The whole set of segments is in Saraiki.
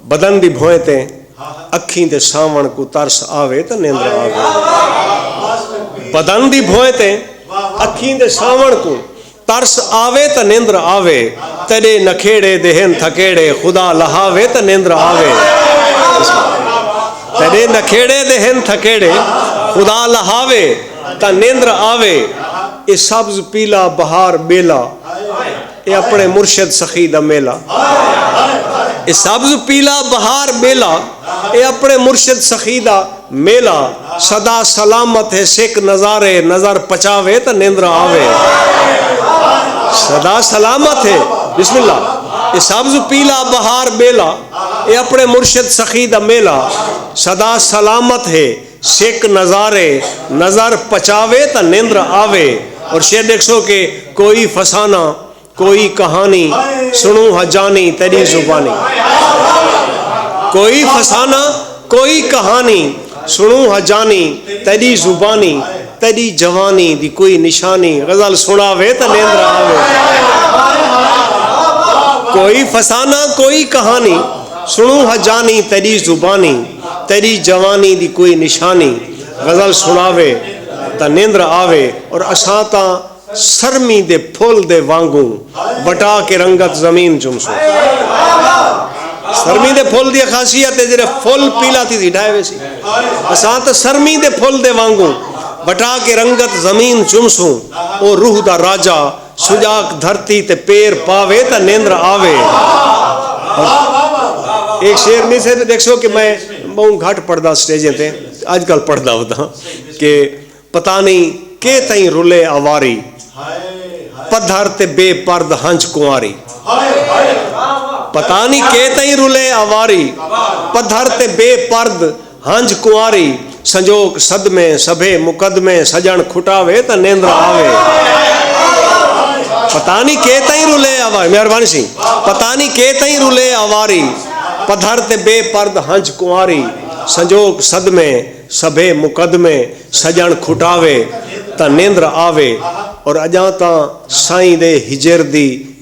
بدن دی بھوئیں تے اکھیں دے ساوݨ کوں ترس آوے تاں نیندرا آوے بدن دی بھوئیں تے اکھیں دے ساوݨ کوں ترس آوے تاں نیندرا آوے تیڈے نکھیڑے دے ہن تھکیڑے خدا لہاوے تاں نیندرا آوے تیڈے نکھیڑے دے ہن تھکیڑے خدا لہاوے تاں نیندرا آوے اے سبز پیلا بہار بیلا اے اپݨے مرشد سخی دا میلہ اے سبز پیلا بہار ٻیلا اے اپݨے مرشد سخی دا میلہ سدا سلامت ہے سک نظارے نظر پچاوے تاں نیندراں آوے سدا سلامت ہے بسم اللہ اے سبز پیلا بہار ٻیلا اے اپݨے مرشد سخی دا میلہ سدا سلامت ہے سک نظارے نظر پچاوے تاں نندر آوے اور شعر ݙیکھسو کہ کوئی فسانہ کوئی کہانی سݨوں ہا جانی تیݙی زبانی کوئی فسانہ کوئی کہانی سݨوں ہا جانی تیݙی زبانی تیݙی جوانی دی کوئی نشانی غزل سݨاوے تاں نندر آوے کوئی فسانہ کوئی کہانی سݨوں ہا جانی تیݙی زبانی تیݙی جوانی دی کوئی نشانی غزل سݨاوے تاں نیندر آوے اور اساں تاں سرمی دے پھل دے وانگوں بٹا کے رنگت زمین چمسوں۔ سرمی دے پھل دی خاصیت ہے جیڑھے پھل پیلا تھیسی ڈھائے ویسی۔ اساں تاں سرمی دے پھل دے وانگوں بٹا کے رنگت زمین چمسوں۔ او روح دا راجہ سجاک دھرتی تے پیر پاوے تاں نیندر آوے۔ اے شعر نہیں سہدے ڈیکھسو کہ میں بہوں گھٹ پڑھدا سٹیجیں تے اج کل پڑھدا ہونداں کہ پتہ نہیں کے تئیں رلے اواری پدھر تے بے پرد ہنج کنواری پتہ نہیں کے تئیں رلے اواری پدھر تے بے پرد ہنج کنواری سنجوک صدمے سبھے مقدمے سجݨ کھٹاوے تاں نیندرا آوے پتہ نی کے تئیں رلے اواری مہربانی سی پتہ نی کے تئیں رلے اواری پدھر تے بے پرد ہنج کنواری سنجوک صدمے سبھے مقدمے سجݨ کھٹاوے تاں نیندرا آوے اور اڄاں تاں سائیں دے ہجر دی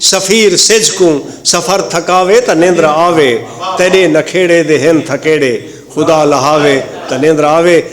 سفیر سجھ کوں سفر تھکاوے تاں نیندرا آوے تیݙے نکھیڑے دے ہن تھکیڑے خدا لہاوے تاں نیندرا آوے۔